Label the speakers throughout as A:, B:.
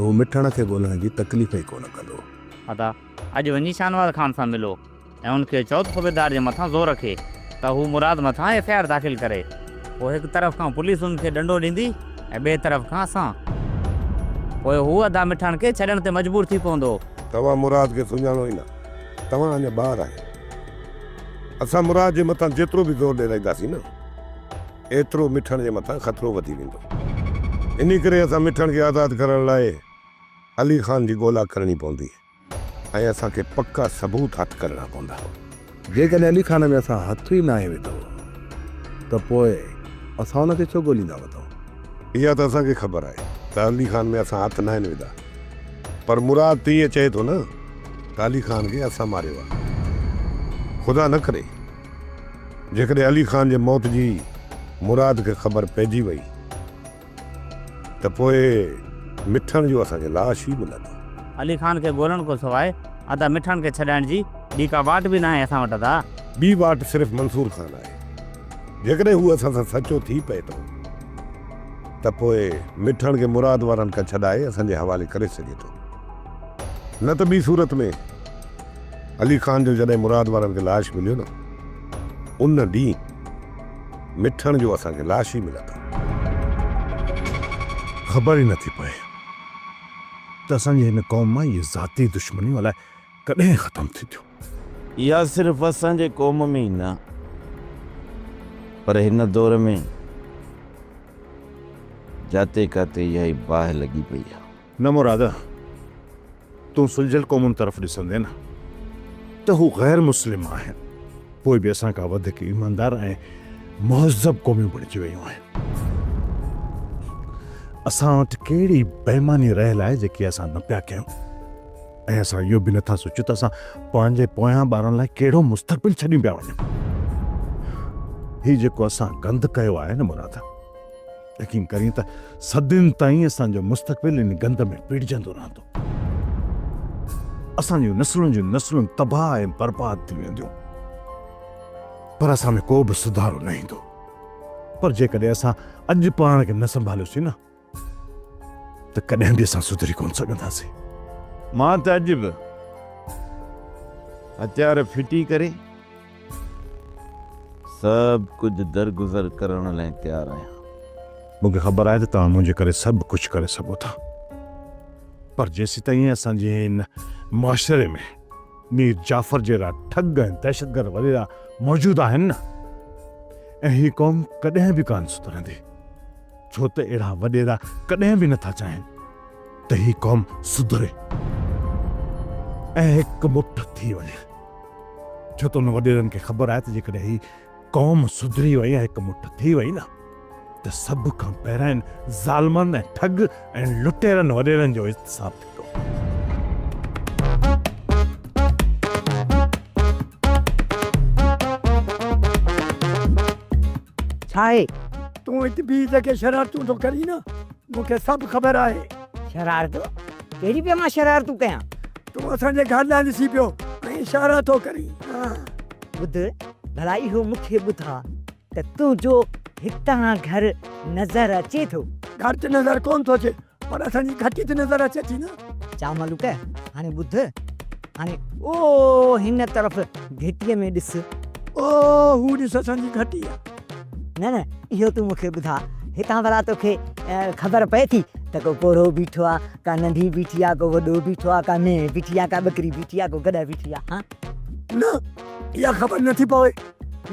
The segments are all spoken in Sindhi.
A: ته هو مٺڻ کي ڳولڻ جي تڪليف ئي ڪونه ڪندو. ادا
B: اڄ وڃي شاهنواز خان سان ملو ۽ ان کي چئو ته صوبيدار جي مٿان زور رکي ته هو مراد مٿان ايف آء آر داخل ڪري. پوء هڪ طرف کان پوليس ان کي ڏنڊو ڏيندي ۽ ٻئي طرف کان اسان. پوء هو ادا مٺڻ کي ڇڏڻ تي مجبور ٿي پوندو. توهان مراد کي
A: سڃاڻو ئي نه. توهان اڃا ٻار آهيو. اسان مراد جي مٿان جيترو به زور ڏيرائينداسين نه. ايترو مٺڻ جي مٿان خطرو وڌي ويندو. انهي ڪري اسان مٺڻ کي آزاد ڪرڻ لاء علي خان جي ڳولا ڪرڻي پوندي ۽ اسان کي پڪا ثبوت هٿ ڪرڻا پوندا. جيڪڏهن علي خان ۾ اسان هٿ ئي ناهي وڌو ته پوء اسان ان کي ڇو ڳوليندا وتون؟ اها ته اسان کي خبر آهي ته علي خان ۾ اسان هٿ ناهن وڌا پر مراد ته ايئن چئي ٿو نه ته علي خان کي اسان ماريو آهي. خدا نه ڪري! جيڪڏهن علي خان جي موت جي مراد کي خبر پئجي وئي ته پوء مٺڻ جو اسان کي لاش ئي ملندو. علي خان کي
B: ڳولڻ کان سواء ادا مٺڻ کي ڇڏائڻ جي ٻي ڪا واٽ به ناهي اسان وٽ ادا. ٻي واٽ صرف
A: منصور خان آهي. جيڪڏهن هو اسان سان سچو ٿي پئي ٿو ته پوء مٺڻ کي مراد وارن کان ڇڏائي اسان جي حوالي ڪري سگهي ٿو. نه ته ٻي صورت ۾. علي خان جو جڏهن مراد وارن کي لاش مليو نه ان ڏينهن مٺڻ جو اسان کي لاش ئي ملندو. خبر ئي نٿي پئي ته اسان جي هن قوم مان اهي ذاتي دشمنيون الاء ڪڏهن ختم ٿينديون. اها
C: صرف اسان جي قوم ۾ ئي نه پر هن دور ۾ جاتي ڪاتي اهائي باهه لڳي پئي آهي. نه مراد،
A: تون سلجهيل قومن طرف ڏسندين نه ته هو غير مسلم آهن، پوء به اسان کان وڌيڪ ايماندار ۽ مهذب قوميون بڻجي ويون آهن. اسان وٽ ڪهڙي بيماني رهيل آهي جيڪي اسان نه پيا ڪيون ۽ اسان اهو به نٿا سوچيون ته اسان پنهنجي پويان ٻارن لاء ڪهڙو مستقبل ڇڏيون پيا وڃون. هي جيڪو اسان گند ڪيو آهي نه مراد، يقين ڪرين ته صدين تائين اسان جو مستقبل ان گند ۾ پيڙجندو رهندو اسان جون نسلون جون نسلون تباهه ۽ برباد ٿي وينديون پر اسان ۾ ڪو به سڌارو نه ايندو پر جيڪڏهن اسان اڄ پاڻ کي نه سنڀاليوسين نه ته ڪڏهن به اسان سڌري ڪونه سگهنداسين مان
C: ته اڄ به هٿيار ڦٽي ڪري سڀ ڪجهه درگذر ڪرڻ لئه تيار آهيان. مون کي خبر
A: آهي ته توهان منهنجي ڪري سڀ ڪجهه ڪري سگهو ٿا پر جيسيتائين اسان جي هن معاشري ۾ مير جعفر جهڙا ٺڳ ۽ دهشتگرد وريرا موجود آهن نه ۽ هي قوم ڪڏهن به ڪانه سڌرندي ڇو ته اهڙا وڏيرا ڪڏهن به نٿا چاهين ته هي قوم سڌري ۽ هڪ مٺ ٿي وڃي. ڇو ته ان وڏيرن کي خبر آهي ته جيڪڏهن هي قوم سڌري وئي ۽ هڪ مٺ ٿي وئي نه ته سڀ کان پهريان ان ظالمن ۽ ٺڳ ۽ لٽيرن وڏيرن جو احتساب ٿيندو.
D: ڇا آهي؟ تون ات بيهه جيڪي شرارتون ٿو ڪرين نه مون کي سڀ خبر آهي. شرارتون؟
E: ڪهڙي پيا مان شرارتون ڪيان؟ تون اسان جي
D: گهر ڏانهن ڏسي پيو ۽ اشارا ٿو ڪرين. ٻڌ
E: ڀلا اهو مون کي ٻڌاء ته تنهنجو هتان گهر نظر اچي ٿو؟ گهر ته نظر ڪونه
D: ٿو اچي پر اسان جي گهٽي ته نظر اچي ٿي نه. چا ملوڪ
E: هاڻي ٻڌ، هاڻي او هن طرف گهٽيء ۾ ڏس. او
D: هو ڏس اسان جي گهٽي آهي. نه نه
E: اهو تون مون کي ٻڌاء هتان ڀلا توکي خبر پئي ٿي ته ڪو پوڙهو بيٺو آ ڪا ننڍي بيٺي آ ڪو وڏو بيٺو آ ڪا مينهن بيٺي آ ڪا ٻڪري بيٺي آ ڪو گڏهه بيٺي آ ها. نه اها
D: خبر نه ٿي پوي.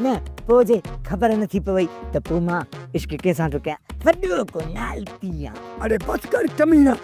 D: نه پوء
E: جي خبر نه ٿي پوي ته پوء مان عشق ڪنهن سان ٿو ڪيان وڏو ڪو لالچي آ. اڙي بس ڪر
D: ڪمينه.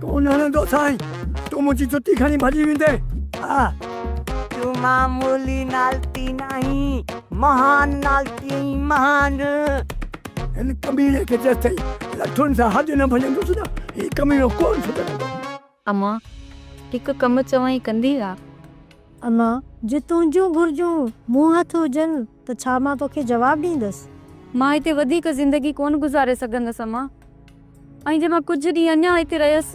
D: تون نه هڻندو سائين. تون منهنجي جتي کڻي ڀڄي ويندين. آء.
E: تون معمولي نالتي ناهين. مهان نالتي ۽ مهان.
D: هن ڪميڻي کي جيستائين لٺن سان هڏ نه ڀڃندس نه هي ڪميڻو ڪونه سڌرندو. اما،
F: هڪ ڪم چوانء ڪندين ها؟ اما،
G: جي تنهنجون گهرجون مون هٿ هجن ته ڇا مان توکي جواب ڏيندس؟ مان هتي وڌيڪ
F: زندگي ڪونه گذاري سگهندس امان. ۽ جي مان ڪجهه ڏينهن اڃا هتي رهيس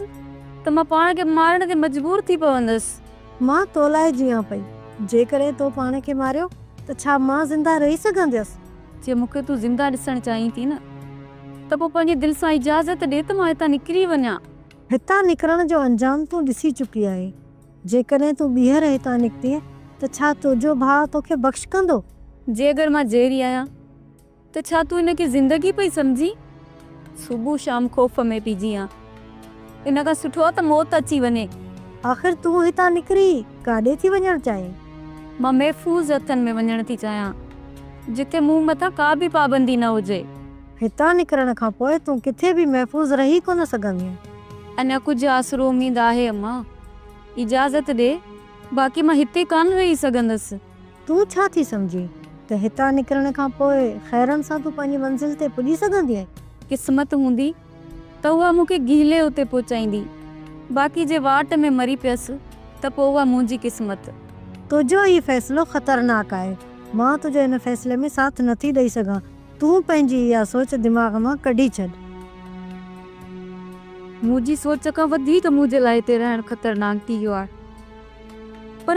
F: ته مان پاڻ کي مارڻ تي مجبور ٿي پوندس. مان تو لاء
G: جيئان پئي. جيڪڏهن تو پاڻ کي ماريو ته ڇا مان زنده رهي سگهنديس؟ جي مون کي تون
F: زنده ڏسڻ چاهين ٿي نه ته پوء پنهنجي دل سان اجازت ڏي ته مان هتان نڪري وڃان. هتان نڪرڻ
G: جو انجام تون ڏسي چڪي آهين. جيڪڏهن تون ٻيهر هتان نڪتين ته ڇا تنهنجو ڀاء توکي بخش ڪندو؟ جي اگر مان
F: زهري آهيان ته ڇا تون ان کي زندگي پئي سمجهين؟ صبح شام خوف ۾ پئي جيئان. ان کان سٺو آهي ته موت اچي وڃي. آخر تون
G: هتان نڪري ڪاڏي ٿي وڃڻ چاهين؟ مان محفوظ
F: هٿن ۾ وڃڻ ٿي چاهيان، جتي مون مٿان ڪا به پابندي نه هجي. هتان نڪرڻ
G: کان پوء تون ڪٿي به محفوظ رهي ڪونه سگهندينء. اڃا ڪجهه
F: آسرو اميد آهي اما. اجازت ڏي، باقي مان هتي ڪانه رهي سگهندس. تون ڇا ٿي
G: سمجهين ته هتان نڪرڻ کان پوء خيرن سان تون پنهنجي منزل تي پڄي سگهندينء؟ قسمت هوندي
F: ته اها مون کي گهلي اتي پهچائيندي، باقي جي واٽ ۾ مري پيس ته پوء اها منهنجي قسمت. تنهنجو هي
G: فيصلو خطرناڪ آهي. مان تنهنجي هن فيصلي ۾ ساٿ نٿي ڏئي سگهان. تون پنهنجي اها سوچ دماغ مان ڪڍي ڇڏ.
F: منهنجي سوچ کان وڌيڪ منهنجي لاء هتي رهڻ خطرناڪ ٿي ويو آهي. پر.